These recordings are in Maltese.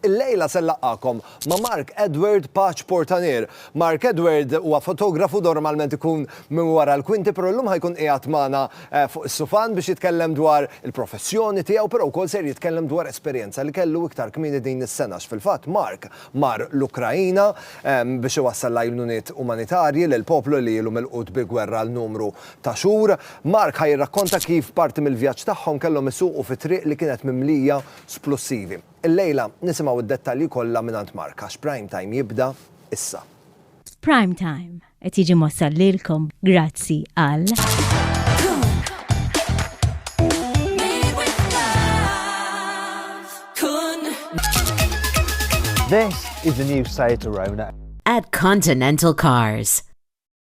Illejla se nlaqqagħkom ma' Mark Edward Paċ Portanier. Mark Edward huwa fotografu normalment ikun minn wara l-kwinti però llum ħa jkun qiegħed magħna fuq is-sufan biex jitkellem dwar il-professjoni tiegħu però wkoll ser jitkellem dwar esperjenza li kellu iktar kmieni din is-sena għax fil-fatt Mark mar l-Ukraina biex iwassal l-għajnuniet umanitarji lil poplu li ilu milqut bi gwerra għal numru ta' xhur. Mark ħa jirrakkonta kif parti mill-vjaġġ tagħhom kellhom isuqu fi triq li kienet mimlija splussivi. Illejla nisimgħu d-dettalji kollha mingħand Mark għax Prime Time jibda issa. Prime Time qed jiġi mwassal lilkom grazzi għal. This is the new site Arona. At Continental Cars.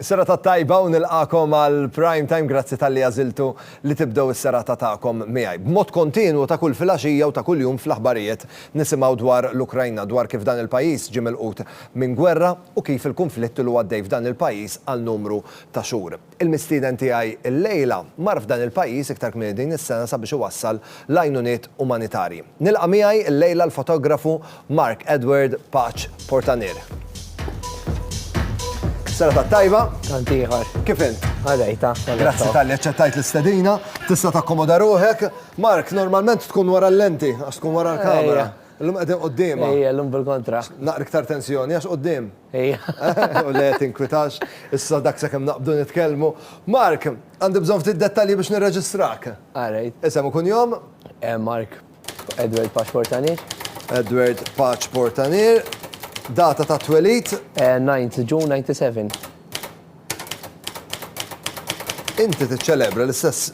Is-serata t-tajba u nilqagħkom għal Prime Time grazzi talli għażiltu li tibdew is-serata tagħkom miegħi. B'mod kontinwu ta' kull filgħaxija u ta' kuljum fl-aħbarijiet nisimgħu dwar l-Ukrajna, dwar kif dan il-pajjiż ġie milqut minn gwerra u kif il-kunflitt ilu għaddej f'dan il-pajjiż għal numru ta' xhur. Il-mistieden tiegħi llejla mar f'dan il-pajjiż iktar kmieni din is-sena sabiex iwassal l-għajnuniet umanitarji. Nilqa' miegħi llejla l-fotografu Mark Edward Paċ Portanir. Serata tajba. Tant ieħor. Kif int? Għadajta. Grazzi tal-li ċettajt l-istedina, tista' takkomoda ruħek. Mark, normalment tkun wara l-lenti, għax tkun wara l-kamera. L-lum għedin qoddima. Ejja, l-lum bil-kontra. Naqri ktar tensjoni, għax qoddim. Ejja. U le, tinkwitax, issa dak se kem naqbdu nitkelmu. Mark, għandi bżon ftit dettalji biex nirreġistrak. Għarajt. Isem u kun jom? Eh, Mark. Edward Paċ Portanier. Edward Paċ Portanier. Data ta' twelid? 9 eh, June 97. Inti tiċċelebra l-istess,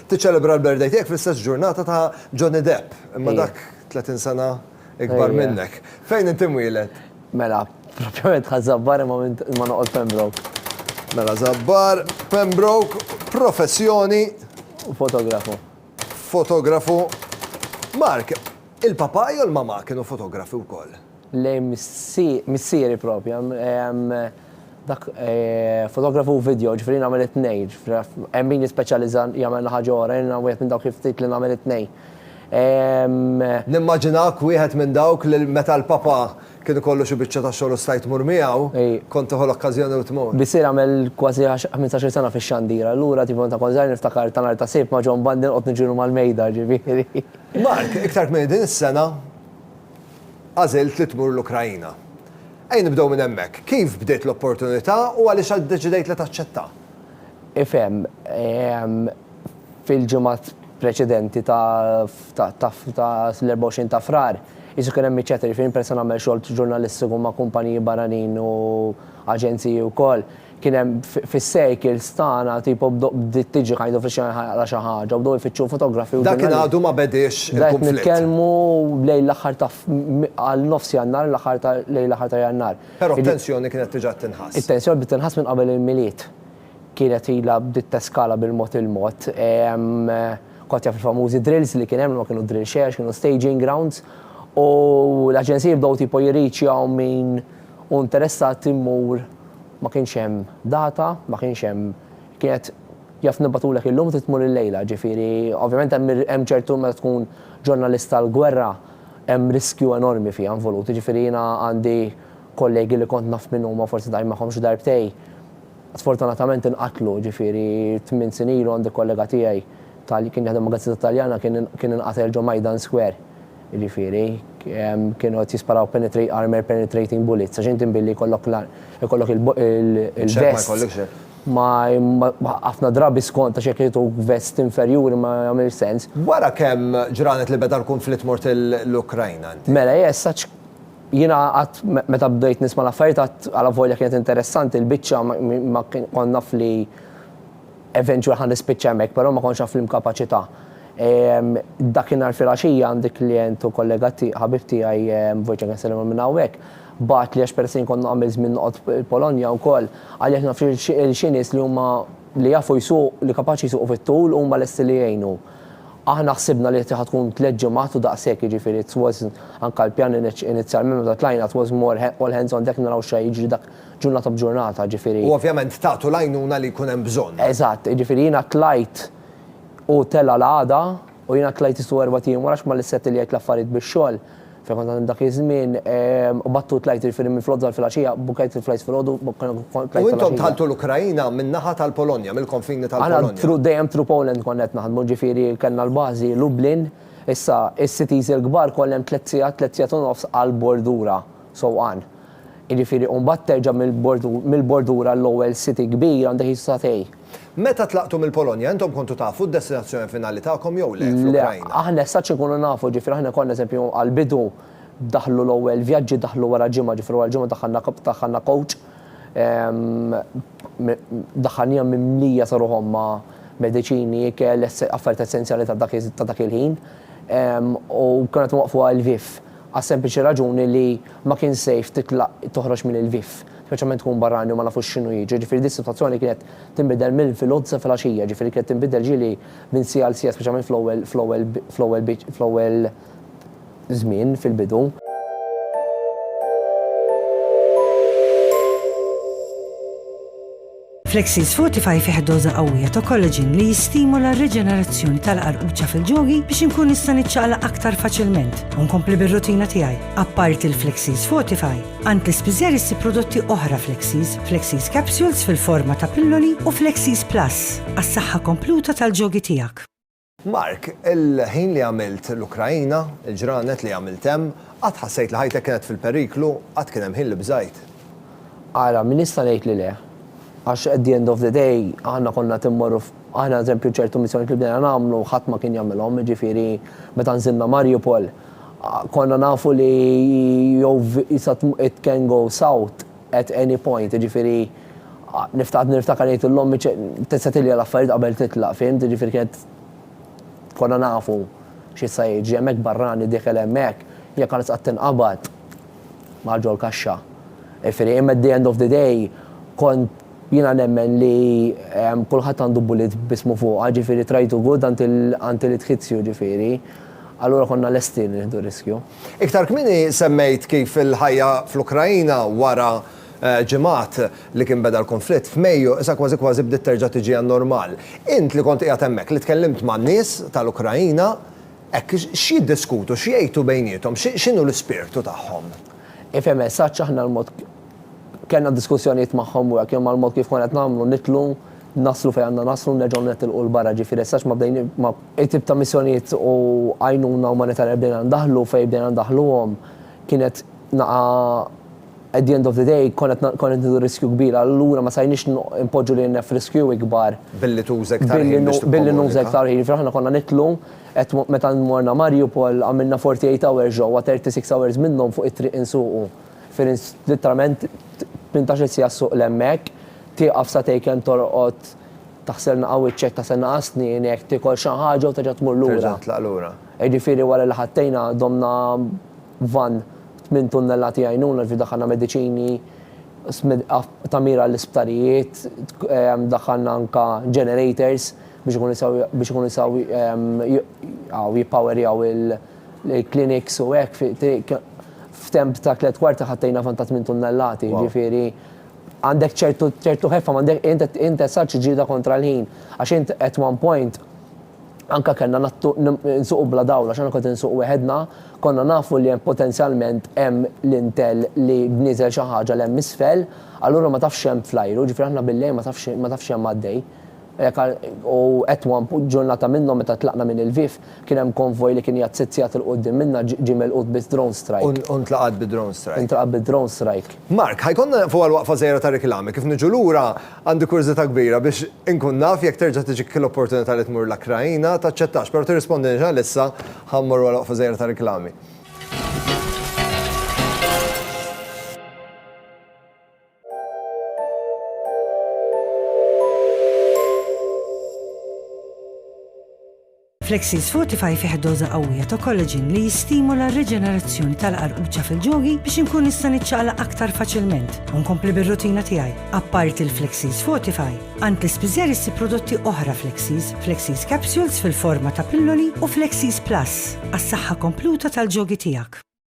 tiċċelebra l-birthday tiegħek fl-istess ġurnata ta' Johnny Depp, imma dak 30 sena ikbar minnek. Fejn inti mwieled? Mela, propjament ħa zabbar imma ma noqgħod Pembroke. Mela zabbar, Pembroke, professjoni. Fotografu. Fotografu, Mark, il-papà jew il-mamà kienu fotografi wkoll? Le, missieri proprja. Dak fotografu u vidjo, ġifieri jien nagħmel it-tnejn. Hemm min jispeċjalizza jagħmel l-aħħar ġo wara, jiena wieħed minn dawk il-ftit li nagħmel it-tnejn. Nimmaġinak wieħed minn dawk li meta l-papà Kien ikollu xi biċċa ta' xogħol u stajt tmur miegħu? Kont tieħu l-okkażjoni u tmur? Bisser għamel kważi ħmintax-il sena fix-xandir, allura tiefu meta kont żgħir niftakar ta' nhar ta' Sibt ma' John Bandi noqgħod niġrilu mal-mejda, ġifieri. Mark, iktar kmieni din is-sena għażilt li tmur l-Ukraina. Ejja nibdew minn hemmhekk. Kif bdiet l-opportunità u għaliex iddeċidejt li taċċettha? Ifhem, Fil-ġimgħat preċedenti ta' l-24 ta' Frar, qisu kien hemm miċċa tgħirfien peress li nagħmel xogħol ġurnalistiku ma' kumpaniji barranin u aġenziji wkoll. Kien hemm fis-circles tagħna tipo bdiet tiġi kind of ix-xena ħa jaqra' xi ħaġa u bdew ifittxu fotografi u ġurnalisti. Dakinhar għadu ma bediex il-kunflitt. Qed nitkellmu lejn l-aħħar ta' għal nofs Jannar, l-aħħar ta' lejn l-aħħar ta' Jannar. Però t-tensjoni kienet tiġa qed tinħass. It-tensjoni bdiet tinħass minn qabel il-Milied. Kienet ilha bdiet teskala bil-mod il-mod. Kont jaf il-famużi drills li kien hemm, li ma kienu drill xejn għax kienu staging grounds, u l-aġenziji bdew tipo jirriċjaw min hu interessat immur, ma kienx hemm data, ma kienx hemm, kienet jaf nibgħatulek illum trid tmur illejla, ġifieri ovvjament hemm hemm ċertu meta tkun ġurnalist tal-gwerra hemm riskju enormi fiha involut, jiġifieri jiena għandi kollegi li kont naf min huma forsi ltqajt magħhom xi darbtej, Sfortunatament inqatlu, ġifieri tmien snin ilu għandi kollega tiegħi ta' li kien jaħdem ma' gazzetta Taljana kien kien inqatel ġo Maidan Square. Jiġifieri, kienu qed jisparaw penetrate armor penetrating bullets għax inti mbilli jkollok ikollok il il-vest ma ħafna drabi skont għax jekk jagħtuk vest inferjuri ma jagħmilx sens. Wara kemm ġranet li beda l-kunflitt mort l-Ukrajna inti? Mela, yes, such. Jiena qatt meta bdejt nisma' l-affarijiet qatt alavolja kienet interessanti l-biċċa ma kont naf li eventual ħa nispiċċa hemmhekk però ma kontx naf l-imkapaċità. Dakinhar filgħaxija għandi klijent u kollega ħabib tiegħi, Wojciech anke nsellimlu minn hawnhekk, bagħatli għax peress li kont nagħmel żmien noqgħod il-Polonja wkoll, għalli għax naf li xi nies li huma li jafu jsuq li kapaċi jsuqu fit-tul huma lesti li jgħinu. Aħna ħsibna li qed tkun tliet ġimgħat u daqshekk, jiġifieri it was anka l-pjan inizjalment meta tlajna it was more all hands on deck naraw xa jiġri dak ġurnata b'ġurnata, jiġifieri. U ovvjament tagħtu l-għajnuna li jkun hemm bżonn. Eżatt, jiġifieri jiena tlajt u tela' l-għada u jiena tlajt is-sew erbat ijiem wara għax m'għandix sett li jgħid l-affarijiet bix-xogħol. Fil-kontant dak iż-żmien, qbadtu u tlajt il-firien minn fl-għodwa għal filgħaxija, bukkajt il-flights filgħodu, bukkajna u tlajt filgħaxija. U intom dħaltu l-Ukraina min-naħa tal-Polonja, mill-konfini tal-Polonja? Aħna through, dejjem through Poland konna qed naħdmu, ġifieri kellna l-bażi Lublin, issa is-cities il-kbar kollha tliet sigħat, tliet sigħat u nofs għall-bordura, sewqan. Jiġifieri u mbagħad terġa' mill-bordura għall-ewwel city kbir għandek xi sagħtej. Meta tlaqtu mill-Polonja, intom kontu tafu d-destinazzjoni finali tagħkom jew le fl-Ukrajna? Le, aħna as-such inkunu nafu, ġifieri aħna konna eżempju għall-bidu daħlu l-ewwel vjaġġi daħlu wara ġimgħa, ġifieri wara ġimgħa daħħalna daħħalna coach daħħalniha mimlija sa ruħhom ma' mediċini, ikel, affarijiet essenzjali ta' dak ta' dak il-ħin. U konna qed inwaqqfu għal Lviv għas-sempliċi raġuni li ma kien safe titlaq toħroġ minn Lviv. speċjalment tkun barrani u ma nafux x'inhu jiġri, jiġifieri din is-sitwazzjoni kienet tinbidel mill-filgħodd sa filgħaxija, jiġifieri kienet tinbidel ġieli minn siegħa għal siegħa speċjalment fl-ewwel fl-ewwel fl-ewwel biċ fl-ewwel żmien fil-bidu. Flexis Fortify fih doża qawwija ta' kollaġin li jistimula r-riġenerazzjoni tal-qarquċċa fil-ġogi biex inkun nista' niċċaqla aktar faċilment u nkompli bir-rutina tiegħi. Apparti l-Flexis Fortify, għand l-ispiżer issib prodotti oħra Flexis, Flexis Capsules fil-forma ta' pilloli u Flexis Plus għas-saħħa kompluta tal-ġogi tiegħek. Mark, il-ħin li għamilt l-Ukraina, il-ġranet li għamilt hemm, qatt ħassejt li ħajtek kienet fil-periklu? Qatt kien hemm ħin li bżajt? Ara, min jista' jgħid li le? Għax at the end of the day, aħna konna qed immorru f', aħna eżempju ċertu missjonijiet li bdejna nagħmlu ħadd ma kien jagħmilhom, jiġifieri meta nżilna Mariupol, konna nafu li jew it can go south, at any point, jiġifieri niftakar niftakar ngħid lil ommi tista' tilja l-affarijiet qabel titlaq, fhimt, jiġifieri kienet konna nafu x'issa jiġri hemmhekk barrani diekel hemmhekk, hija kienet qatt tinqabad ma' ġol-kaxxa. Jiġifieri imma at the end of the day kont jiena nemmen li kulħadd għandu bullet b'ismu fuqha, jiġifieri try to good until it hits you, jiġifieri allura konna lesti li nieħdu riskju. Iktar kmieni semmejt kif il-ħajja fl-Ukraina wara ġimgħat li kien beda l-kunflitt f'Mejju issa kważi kważi bdiet terġa' tiġi għan-normal. Int li kont qiegħed hemmhekk, li tkellimt man-nies tal-Ukraina hekk, x'jiddiskutu, x'jgħidu bejniethom, x'inhu l-ispirtu tagħhom? Ifhem, sa x'aħna l-mod Kellna diskussjonijiet magħhom wara kemm għal mod kif konna qed nagħmlu, nidħlu, naslu fejn għandna naslu, nerġgħu netilqu 'l barra, ġifieri sax ma bdejni, ma. It-tip ta' missjonijiet u għajnuna umanitarja li bdejna ndaħħlu, fejn bdejna ndaħħluhom, kienet naqa' at the end of the day konna qed, konna qed nieħdu riskju kbir, allura ma stajniex inpoġġu lilna f'riskju ikbar. Billi tuża iktar ħin biex tikkomunika. Billi nuża iktar ħin, ġifieri aħna konna nidħlu, qed meta morna Mariupol għamilna 48 hours ġewwa, 36 hours minnhom fuq it-triq insuqu. Ferenc litteralment tmintax-il siegħa ssuq 'l hemmhekk, tieqaf sa tejken torqod taħsel naqa' wiċċek taħsel naqa' snienek, tiekol xi ħaġa u terġa' tmur lura. Terġa' titlaq lura. Jiġifieri wara li ħattejna domna vann b'tmien tunnellati għajnuna ġifieri daħħalna mediċini, tagħmir għall-isptarijiet, daħħalna anke generators biex ikunu jistgħu jistgħu jippowerjaw l-clinics u hekk, f'temp ta' tliet kwarti ħattejna fond ta' tmien tunnellati, jiġifieri għandek ċertu ħeffa, int qed tsaċċi ġlieda kontra l-ħin għax int at one point anke kellna nsuqu bla dawl għax aħna kont insuq weħedna, konna nafu li hemm potenzjalment hemm lintel li nieżel xi ħaġa 'l hemm isfel, allura ma tafx x'hemm fl-ajru, jiġifieri aħna bil-lejl ma tafx x'hemm għaddej. U at one point, ġurnata minnhom meta tlaqna minn Lviv, kien hemm konvoj li kien qiegħed sitt sigħat 'il quddiem minna ġie melqut bi drone strike. U ntlaqat bi drone strike. Intlaqat bi drone strike. Mark, ħa jkollna neqfu għal waqfa żgħira ta' riklami, kif niġu lura għandi kurżità kbira biex inkun naf jekk terġa' tiġik l-opportunità li tmur l-Ukraina, taċċettax, però tirrispondinix għalissa, ħa mmorru għal waqfa żgħira ta' riklami. Flexies Fortify fih doża qawwija ta' collagen li jistimula r-riġenerazzjoni tal-qarquċa fil-ġogi biex inkun nista' niċċaqlaq aktar faċilment u nkompli bir-rutina tiegħi. Apparti l-Flexies Fortify, għand l-ispiżer issib prodotti oħra Flexies, Flexies Capsules fil-forma ta' pilloli u Flexies Plus għas-saħħa kompluta tal-ġogi tiegħek.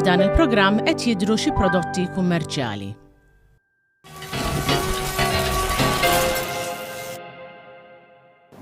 F'dan il-programm qed jidhru xi prodotti kummerċjali.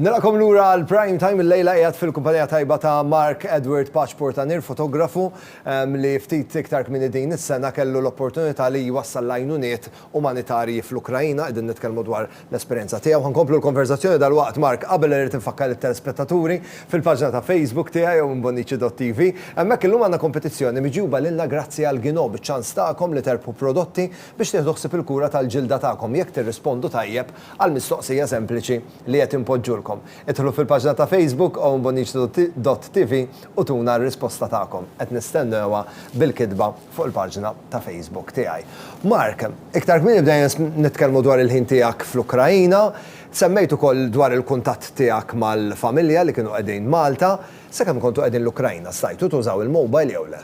Nilaqkom lura għal prime time il-lejla qiegħed fil-kumpanija tajba ta' Mark Edward Paċ Portanir, fotografu ehm, li ftit iktar kmini din is-sena kellu l-opportunità li jwassal lajnuniet umanitarji fl-Ukraina, qegħdin nitkellmu dwar l-esperjenza tiegħu. Ħa nkomplu l-konverżazzjoni dalwaqt. Mark, qabel irrid infakkar lit-telespettaturi fil-paġna ta' Facebook tiegħi jew minn Bonnici.TV. Hemmhekk illum għandna kompetizzjoni miġjuba lilna grazzi għal Gino biċ-ċans tagħkom li terbħu prodotti biex tieħdu ħsieb il-kura tal-ġilda tagħkom jekk tirrispondu tajjeb għall-mistoqsija sempliċi li qed inpoġġulkom. Idħlu fil-paġna ta' Facebook ownbonnici.tv u tuna r-risposta tagħkom. Qed nistennewha bil-kitba. fuq il-paġna ta' Facebook tiegħi. Mark, iktar kmieni bdejna nitkellmu dwar il-ħin tiegħek fl-Ukraina. Semmejt ukoll dwar il-kuntatt tiegħek mal-familja li kienu qegħdin Malta. Sakemm kontu qegħdin l-Ukraina, stajtu tużaw il-mobile jew le?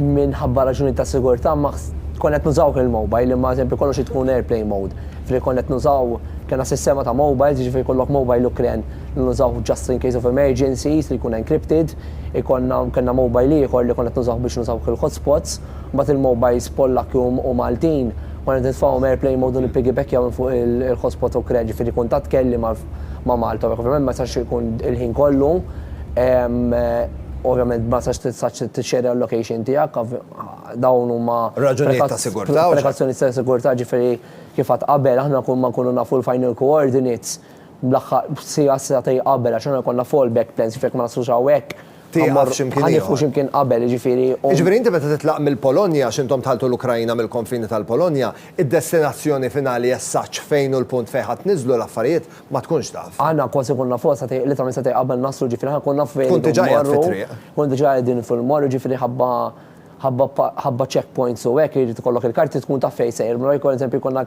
Minħabba raġunijiet ta' sigurtà ma konna qed nużawh il-mobile, imma eżempju kollox irid ikun airplane mode. Ġifieri konna qed nużaw, kellna sistema ta' mobiles, jiġifieri jkollok mobile Ukren li nużawh just in case of emergencies li jkun encrypted. Ikollna, kellna mobile ieħor li konna qed nużawh biex nużaw ukoll hotspots. Mbagħad il-mobiles Pollakki u Maltin, konna qed nitfgħuhom airplane mode u nippigibekkjaw minn fuq il-hotspot Ukren, ġifieri kuntatt kelli ma' Malta u hekk. Ovvjament ma jistax ikun il-ħin kollu, ovvjament ma tistax tixxerred il-location tiegħek, dawn huma. Raġunijiet ta' sigurtà. Prekazzjonijiet ta' sigurtà, ġifieri kif għedt qabel, aħna kull ma nkunu nafu l-final coordinates, Bl-aħħar siegħa, siegħtejn qabel għax aħna jkollna fall back plans, jiġifieri jekk ma naslux hawnhekk, ħa mmorru, ħa nieqfu xi mkien qabel, jiġifieri u. Jiġifieri inti meta titlaq mill-Polonja, għax intom dħaltu l-Ukraina mill-konfini tal-Polonja, id-destinazzjoni finali as such fejn u l-punt fejn ħa tniżżlu l-affarijiet ma tkunx taf. Aħna kważi nkunu nafu għal siegħtejn, literalment siegħtejn qabel naslu, jiġifieri aħna nkunu nafu fejn irridu mmorru. Tkun diġà qiegħed fit-triq. Nkunu diġà qegħdin fil-mall, jiġifieri ħabba, ħabba, ħabba check points u hekk irid ikollok il-karti tkun taf fejn sejr, mela jkun eżempju jkollna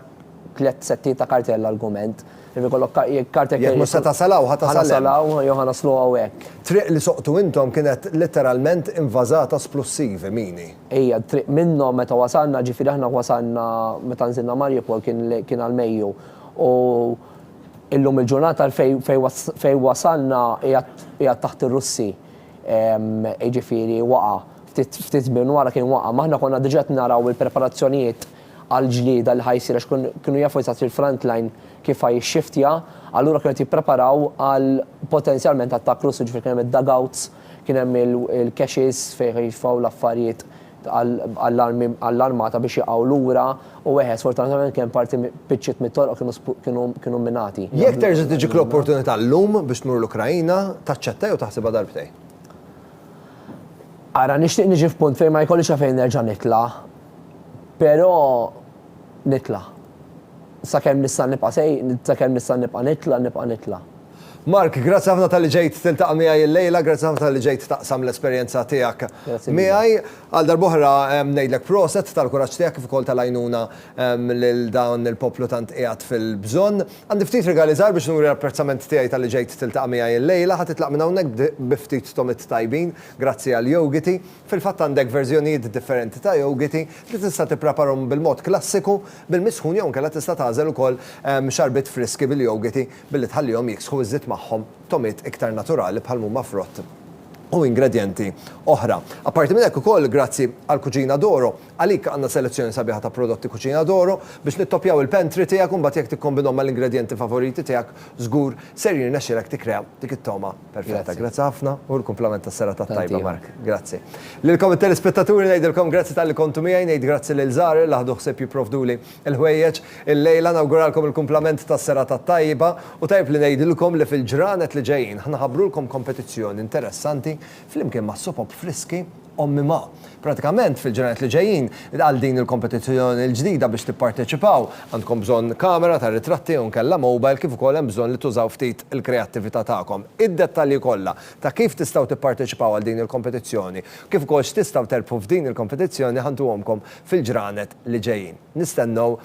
tliet settijiet ta' karti għall-argument. Jekk ikollok ka- jekk caretaker Jekk mhux se jkun- tasal hawn, ħa tasal hemm. Ħanasal hawn jew ħanaslu hawn hekk. Triq li soqtu intom kienet litteralment invażata splussivi mini. Hija d-triq minnhom meta wasalna, ġifieri aħna wasalna meta nżilna Mariupol kien le- kien għall-Mejju. U illum il-ġurnata fejn fejn was- fejn wasalna qiegħed qiegħed taħt ir-Russi. Ehm, jiġifieri waqa'. Ftit ftit żmien wara kien waqa'. Imma aħna konna diġà qed naraw il-preparazzjonijiet għall-ġlieda li ħa jsir għax kienu jafu eżatt li l-frontline kif ħa jixxiftja, allura kienu qed jippreparaw għal potenzjalment attakk Russu, ġifieri kien hemm id-dugouts, kien hemm il-caches fejn ħa jitfgħu l-affarijiet għall-armata biex jaqgħu lura u eħe sfortunatament kien hemm parti piċċiet mit-toroq kienu kienu minati. Jekk terġa' tiġik l-opportunità llum biex tmur l-Ukraina, taċċetta jew taħsibha darbtejn? Ara, nixtieq niġi f'punt fejn ma jkollix għalfejn nerġa' nitla'. Però nitla'. Sakemm nista' nibqa' sej, sakemm nista' nibqa' nitla', nibqa' nitla'. Mark, grazzi ħafna talli ġejt tiltaqa' miegħi illejla, grazzi ħafna talli ġejt taqsam l-esperjenza tiegħek miegħi. Għal darb'oħra ngħidlek proset tal-kuraġġ tiegħek kif ukoll tal-għajnuna lil dan il-poplu tant qiegħed fil-bżonn. Għandi ftit rigali żgħar biex nuri l-apprezzament tiegħi talli ġejt tiltaqa' miegħi illejla. Ħa titlaq minn hawnhekk bi ftit tomit tajbin, grazzi għal jogiti. Fil-fatt għandek verżjonijiet differenti ta' jogiti li tista' tippreparhom bil-mod klassiku bil-misħun jew inkella tista' tagħżel ukoll xarbiet friski bil-jogiti billi tħallihom jiksħu iżżid magħhom togħmiet iktar naturali bħal mhuma frott u ingredjenti oħra. Apparti minn hekk ukoll grazzi għal Cucina d'Oro għalik għandna selezzjoni sabiħa ta' prodotti Cucina d'Oro biex nittoppjaw il-pantry tiegħek u mbagħad jekk tikkombinhom mal-ingredjenti favoriti tiegħek żgur ser jirnexxilek tikkrea dik it-togħma Perfetta, grazzi ħafna u l-kumplament tas-serata t-tajba Mark. Grazzi. Lilkom it-telespettaturi ngħidilkom grazzi talli kontu miegħi, ngħid grazzi lil Żahar li ħadu ħsieb jipprovduli l-ħwejjeġ illejla, nawguralkom il-kumplament tas-serata t-tajba u tajjeb li ngħidilkom li fil-ġranet li ġejjin ħa nħabbrulkom kompetizzjoni interessanti flimkien mas-Sopop Friski Ommi ma. Pratikament, fil-ġranet li ġejjin, għal din il-kompetizzjoni l-ġdida biex tipparteċipaw, għandkom bżonn kamera tar-ritratti jew inkella mobile kif ukoll hemm bżonn li tużaw ftit il-kreattività tagħkom. Id-dettalji kollha ta' kif tistgħu tipparteċipaw għal din il-kompetizzjoni, kif ukoll x'tistgħu terbħu f'din il-kompetizzjoni ħa ntuhomkom fil-ġranet li ġejjin. Nistennew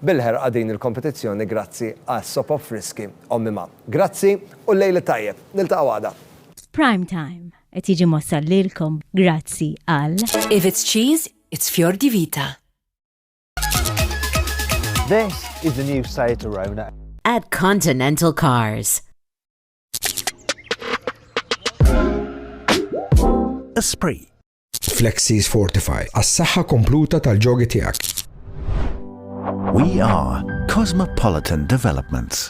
bil-ħerqa din il-kompetizzjoni grazzi għal Sop of Friski Ommi ma. Grazzi u llejl it-tajjeb. Niltaqgħu għada. F'prime time. Qed jiġi mwassal lilkom grazzi għal. If it's cheese, it's Fior di Vita. This is the new Seat Arona. At Continental Cars. Esprit. Flexis Fortify, għas-saħħa kompluta tal-ġogi tiegħek. We are Cosmopolitan Developments.